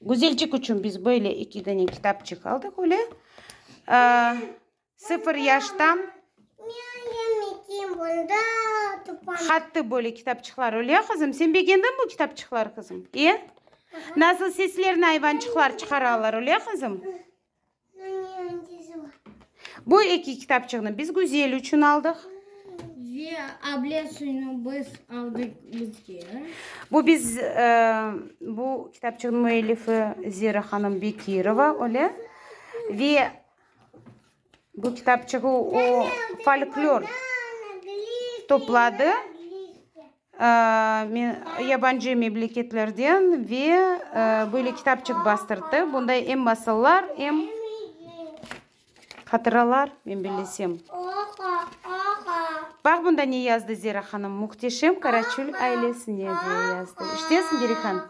Güzelcik içün biz böyle eki dane kitapçıq aldıq, öyle. Sıfır yaştan. Hattı böyle kitapçıqlar, öyle ya, qızım? Sen begendiñ bu kitapçıqlar, qızım? E? Nasıl seslerni ayvançıqlar çıqaralar, öyle ya, qızım? Bu eki kitapçığını biz Güzel içün aldıq. Ve able suyunu biz aldıq bizge. Bu biz, bu kitapçığın müellifi Zira hanım Bekirova, öyle. Ve bu kitapçığı o folklor topladı. yabancı memleketlerden ve böyle kitapçıq bastırttı. Bunda em masıllar, em hatıralar, men bellesem. Baq, bunda ne yazdı Zera hanım, Muhteşem Karaçül ailesine diye yazdı. İşitesiñ, Gerihan?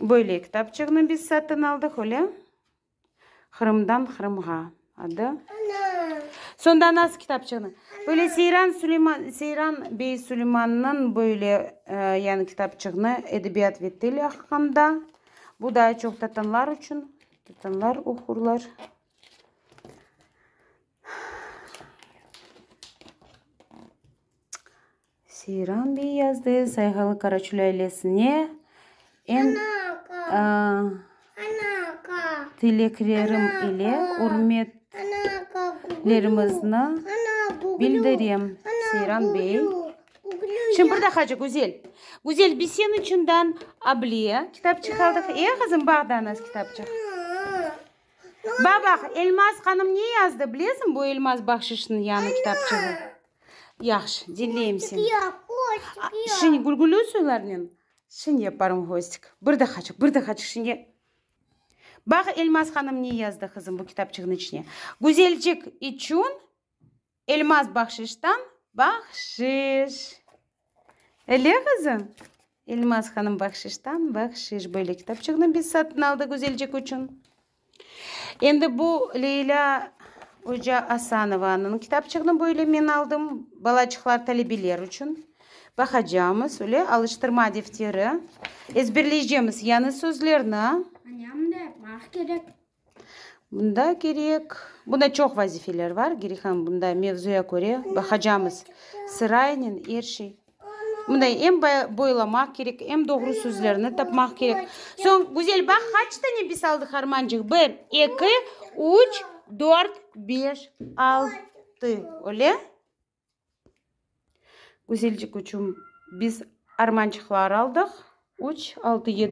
Böyle kitapçığını biz satın aldıq, öyle? Qırımdan Qırımğa adı. Sonda nasıl kitapçığını? Böyle Seyran Süleyman, Seyran bey Süleymannıñ böyle yani kitapçığını edebiyat ve til aqqında. Bu daa çoq tatanlar içün. Tatanlar oqurlar. Seyran biy yazdı, Sayğalı Qaraçul ailesine en tileklerim ile ürmetlerimizni bildirem, Seyran biy. Şimdi bir daqacık, Güzel. Güzel, biz senin içinden Abliye kitapçıq aldıq. E, qızım, bax da nas kitapçıq. Bax, bax, Elmaz hanım ne yazdı, bilesiñ, bu Elmaz Bahşişniñ yañı kitapçığı. Yahşı, diñleyim seni. Şimdi gülgülü soylarnen şimdi yaparım hostik. Bir daqaçıq, bir daqaçıq şimdi. Baq, Elmaz hanım ne yazdı, qızım, bu kitapçığınıñ içine. Güzelcik içün Elmaz bahşiştan bahşiş. Ele qızı? Elmaz hanım bahşiştan, bahşiş, böyle kitapçığını biz satın aldıq Güzelcik içün. Endi bu Leylâ oca Asanovanıñ kitapçığını böyle men aldım, balaçıqlar, talebeler içün. Baqacamız, öyle, alıştırma defteri. Ezberleycemiz yañı sözlerni. Añam da yapmaq kerek. Bunda kerek, bunda çoq vazifeler bar, kerek ham bunda mevzuya köre baqacamız sıraynen er şey. Bunda em boylamaq kerek, em doğru sözlerni tapmaq kerek. Soñ, Güzel, baq, qaç dane biz aldıq harmancıq? Bir, eki, üç, dört, beş, altı. Öyle? Güzelcik üçün biz armançıqlar aldıq. Üç, altı, yedi.